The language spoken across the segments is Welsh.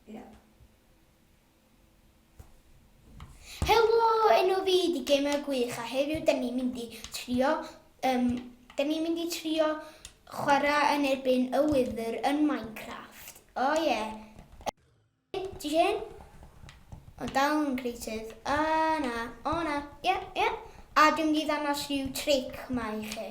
Yep. Helo, enw fi di Gamer Gwych a heddiw da ni'n mynd i trio, um, da ni'n mynd i trio chwarae yn erbyn y wydr yn Minecraft. O oh, ie. Yeah. Ti hyn? O dal yn creative. A na, o na, ie, yeah, ie. Yeah. A dwi'n mynd i ddanos rhyw tric mae i chi.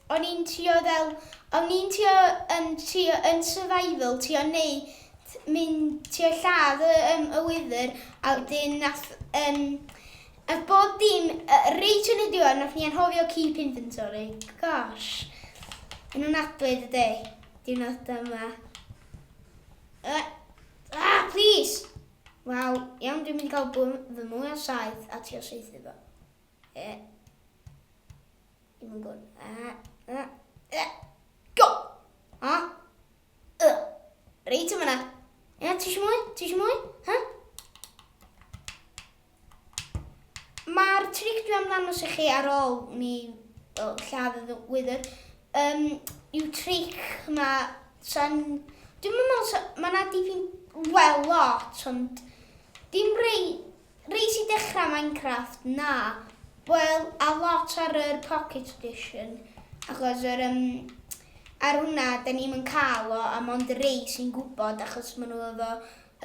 O'n i'n trio fel, o'n i'n trio yn trio yn survival trio neu' mynd trio lladd y yym y wyddyr a wedyn nath yym nath bob dim yy reit yn y diwedd nath ni anghofio keep inventory. Gosh. Yn ofnadwy dydi? Diwrnod yma. Uh, ah, please! Wel, iawn, dwi'n mynd i gael bwm fy mwy o saeth a ti o saethu fo. Eh. Dim yn gwrdd. A, a, a, go! A, y. Reit o fyna. Ia, ti eisiau mwy? Ti eisiau mwy? Ha? Mae'r tric dwi am ddangos i chi ar ôl ni o, lladd y wydr um, yw tric yma sy'n... Dwi'n meddwl, mae yna dipyn well lot, ond dim rei Res i dechrau Minecraft? Na. Wel, a lot ar yr Pocket Edition, achos yr um, ar hwnna, da ni'n yn cael o, a mond y rei sy'n gwybod, achos maen nhw efo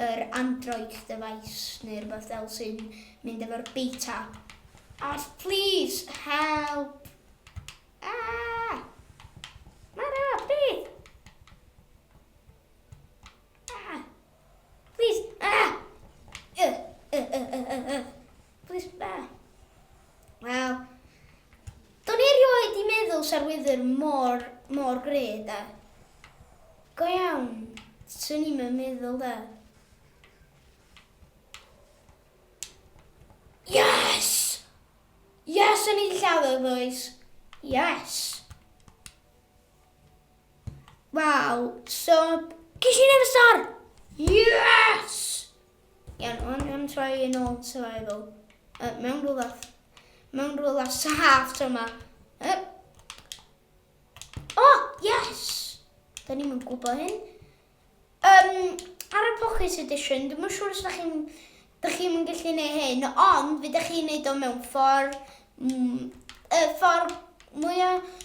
yr Android device neu rhywbeth fel sy'n mynd efo'r beta. Os please, help! Ah! Mara, beth? Ah! Please. Ah! Uh, uh, uh, uh, uh, uh. Please. Ah. Wel, do'n i erioed i meddwl sa'r wydr mor, mor gred, da. Go iawn, swn i'n meddwl, da. Yes! Yes, o'n i'n lladd o, boys. Yes! Waw, sub! Ges i never star! Yes! Iawn, ond dwi'n troi yn ôl survival. Uh, mewn rhywle... Mewn rhywle saff to yma. Uh. Oh, yes! Da ni'n mynd gwybod hyn. Um, ar y Pocket Edition, dwi'n mwyn siŵr os da chi'n da chi'n mynd gallu gwneud hyn, ond fe da chi'n gwneud o mewn ffordd, mm, y ffordd mwyaf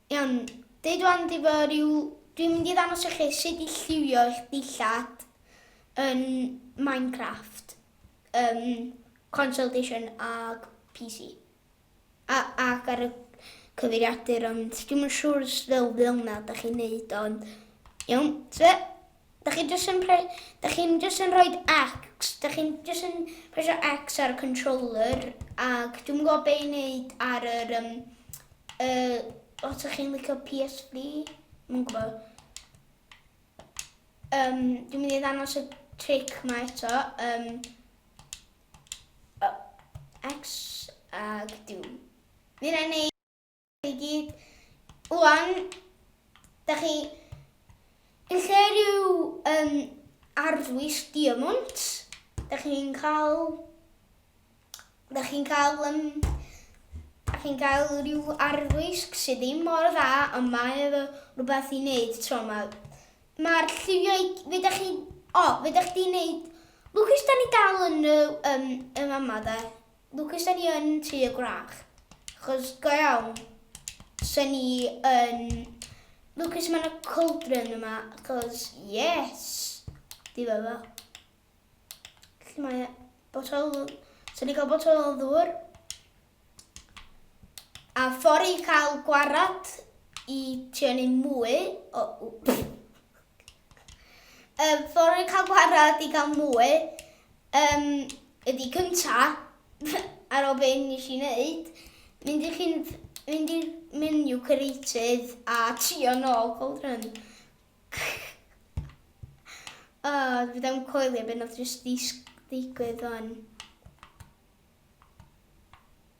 Iawn, deud wan di fo ryw, dwi'n mynd i ddangos i chi sut i lliwio eich dillad yn Minecraft, um, console edition ag PC. A, ac ar y cyfeiriadur ond dwi'n yn siŵr os fel fel na da chi'n neud ond iawn, tse? Dych chi jyst yn pre- dych chi'n jyst yn rhoid X, dych chi'n jyst yn presio X ar y controller ac dwi'm yn gwybod be' i wneud ar yr um, uh, os ydych chi'n licio PSV, dwi'm yn gwybod. Um, dwi'n mynd i ddanos y trick yma eto. Um, uh, X ac dwi'n mynd i wneud i gyd. Wan, da chi... Yn lle rhyw um, arfwys diamwnt, da chi'n cael... Da chi'n cael... Um, da chi'n cael rhyw arfwys sydd ddim mor dda, ond mae efo rhywbeth i wneud tro yma. Mae'r lliwio i... Fe da chi... O, fe da chi wneud... Lucas, da ni dal yn y... Um, yma yma, da. Lwcus da ni yn tŷ y gwrach, achos go iawn, sa ni yn lwcus mae yna cauldron yma, achos yes, di fe fo. Felly mae botol, sa ni cael botol o ddŵr, a ffordd i cael gwarad i ti yn ei mwy, o, Yym fory cael gwared i gael mwy yym ydi cynta ar ôl be nes i neud mynd i chi'n mynd i'r menu creative a trio nôl cold run. O dwi ddim coelio be nath jyst ddigwydd wan.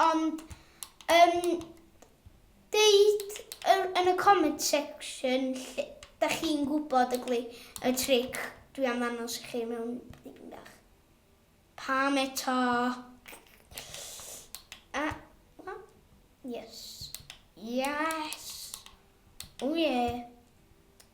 Ond yn deud yn y comment section lle da chi'n gwybod y gli y tric dwi am ddanos i chi mewn dipyn bach. Pam eto? A, uh, yes. Yes. O oh, ie. Yeah.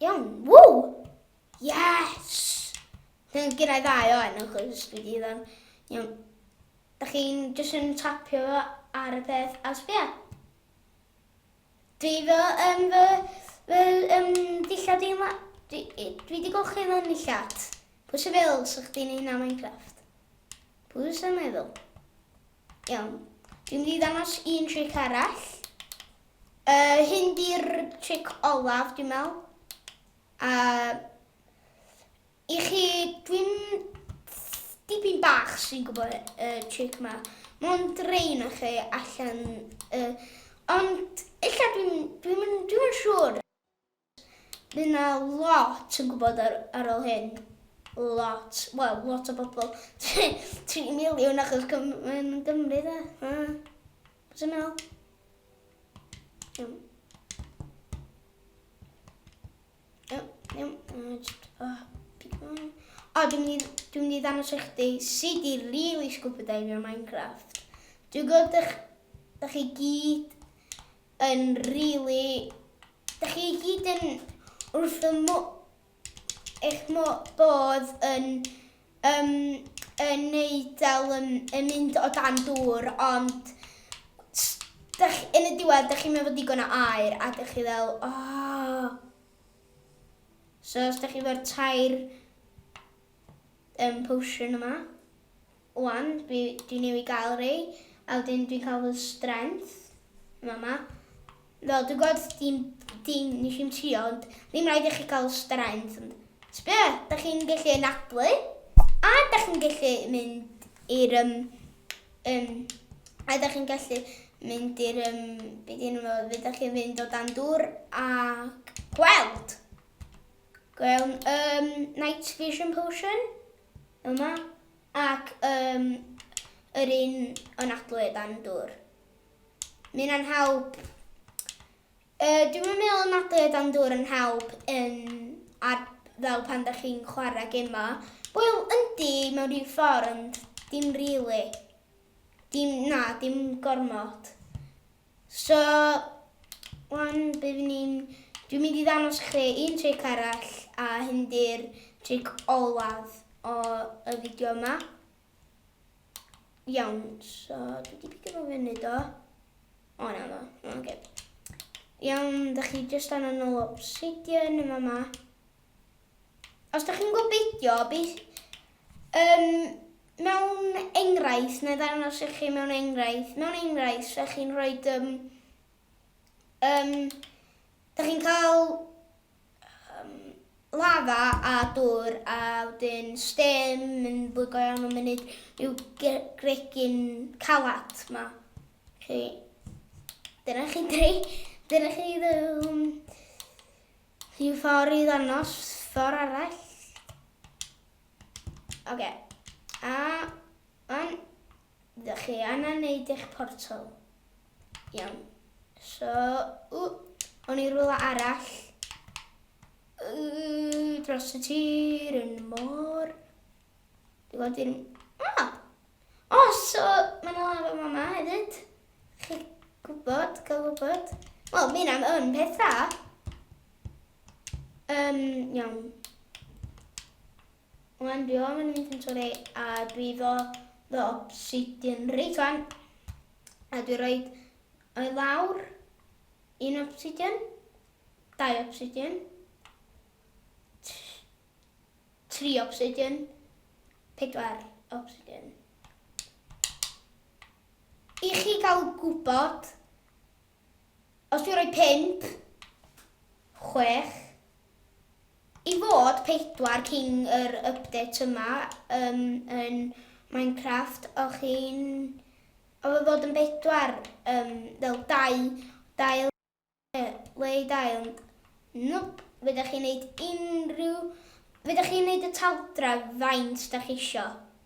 Iawn, ww! Yes! Dwi'n gen i ddau o enw, chos dwi di ddan. Iawn. Da chi'n jyst yn tapio fo ar y peth a sbia. Dwi fy, um, fy, fy um, dillad i'n la... Dwi, dwi di golchi fy nillad. Pwy sy'n fel sy'ch di'n un am Minecraft? Pwy sy'n meddwl? Iawn. Dwi'n mynd i ddangos un tric arall. Uh, hyn di'r tric olaf, dwi'n meddwl. A i chi, dwi'n dipyn bach sy'n gwybod y uh, tric yma. Mae'n drein o chi allan. Uh, ond illa dwi'n dwi dwi siŵr. Fydd 'na lot yn gwybod ar, ar ôl hyn. Lot. Wel, lot o bobl. 3 miliwn achos Cym yn Gymru, dda. Uh, Sy'n meddwl? Iawn. Iawn, iawn. Oh, o, dwi'n mynd i, dwi'n mynd i ddangos eich di sut i really scuba dive o Minecraft. Dwi'n gwybod ych, ych chi gyd yn rili... Dych chi i gyd yn wrth fy mo- eich mo- bodd yn yym yn neud fel yn yn mynd o dan dŵr ond s- dych yn y diwedd dych chi'm efo digon o aer a dych chi fel oh so os dych chi efo'r tair yym potion yma Wan dwi dwi newydd gael rei a wedyn dwi'n cael fy strength yn fama. Fel dwi'n gwybod dim dim nes i'n trio ond ddim rhaid i chi cael strength ond sbio da chi'n gallu anadlu a da chi'n gallu mynd i'r um, um, a da chi'n gallu mynd i'r um, beth i'n fo, fe da chi'n fynd o dan dŵr a gweld. Gwewn um, night vision potion. yma ac um, yr un yn adlu dan dŵr. Mae'n anhawb. Uh, dwi'n meddwl yn adlu dan dŵr yn hawb yn ar, fel pan da chi'n chwarae gema. Wel, yndi, mewn rhyw ffordd, ond dim rili. Really. Dim, na, dim gormod. So, wan bydd ni'n... Dwi'n mynd i ddanos chi un tric arall a hyn di'r tric olwad o y fideo yma. Iawn, so dwi wedi pidio fo fyny do. O na do, oce. Okay. Iawn, da chi jyst anna nôl obsidian yma yma. Os da chi'n gwybod beidio, beth... Um, Mewn enghraifft, na i ddangos i chi mewn enghraifft, mewn enghraifft, sa chi'n rhoi, um, um, da chi'n cael um, lafa a dŵr a wedyn stem yn bwygo iawn o munud yw gregyn calad ma. Chi, dyna chi dri, dyna chi um, rhyw ffordd i ddangos ffordd arall. Oce. A wan, dych chi angen neud eich portal. Iawn. So, ww, o'n i rwla arall. Ww, dros y tir yn y môr. Dwi'n gwybod i'r... Ah! O, oh, so, mae'n yna lafo yma yma hefyd. Chi gwybod, gael gwybod. Wel, mi yna yn peth dda. Um, iawn. Wan, dwi o'n mynd yn sori, a dwi ddo ddo obsidian reit wan. A dwi roi o'i lawr un obsidian, dau obsidian, tri obsidian, pedwar obsidian. I chi gael gwybod Os dwi'n rhoi pump, chwech, i fod pedwar cyn yr update yma um, yn Minecraft, o'ch chi'n... Oedd o fod yn bedwar, um, fel dau, dail, le i dail. Nwp, fydda chi'n neud unrhyw... Fydda chi'n neud y taldra faint da chi isio.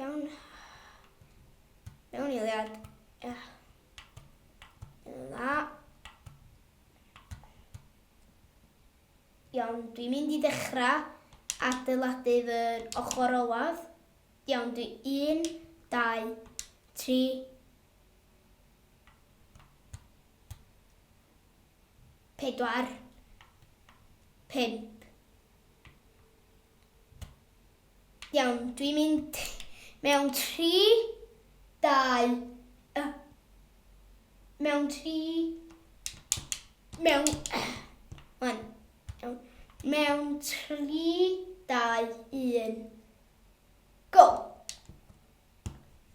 Iawn. Mewn eiliad. Yeah. Dda. Iawn, dwi'n mynd i ddechrau adeiladu fy ochr olaf. Iawn, dwi 1, 2, 3, pedwar, pump. Iawn, dwi'n mynd mewn tri, dau, y... Mewn tri... Mewn... Wan. Iawn. Mewn tri, dau, un. Go!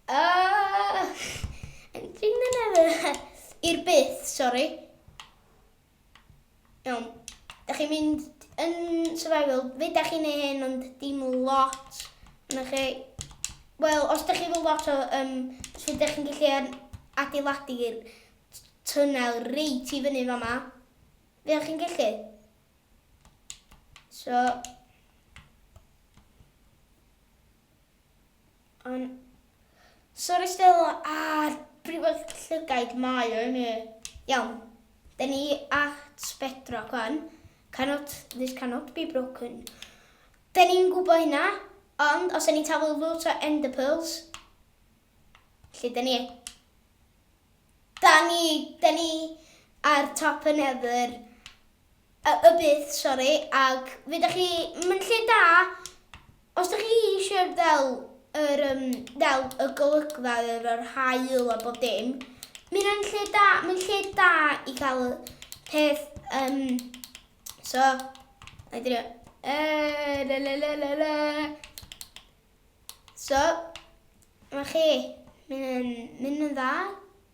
Uh, I'm dreaming of it. I'r byth, sori. Iawn. Da chi'n mynd yn survival. Fe da chi'n ei hyn, ond dim lot. Yna chi... Wel, os da chi fel lot o... Um, so da chi'n gallu adeiladu'r tunnel reit i fyny fama. Fe da chi'n gallu. So... An. Sori Stelo a'r briwedd llygaid mae o imi. Iawn. Dyn ni at bedrock wan. Cannot, this cannot be broken. Dyn ni'n gwybod hynna, ond os dyn ni'n taflu lot o ender pearls, lle dyn ni? Da ni, dyn ni ar top y nether, A y byth, sori, ag fe dach chi, mae'n lle da os dach chi eisiau fel yr um, fel y golygfa yr yr haul a bob dim. Mae'n lle da, mae'n lle da i gael peth um, so I did it. Uh, la, la, la, la, la. So, mae chi, mynd yn, mynd yn dda.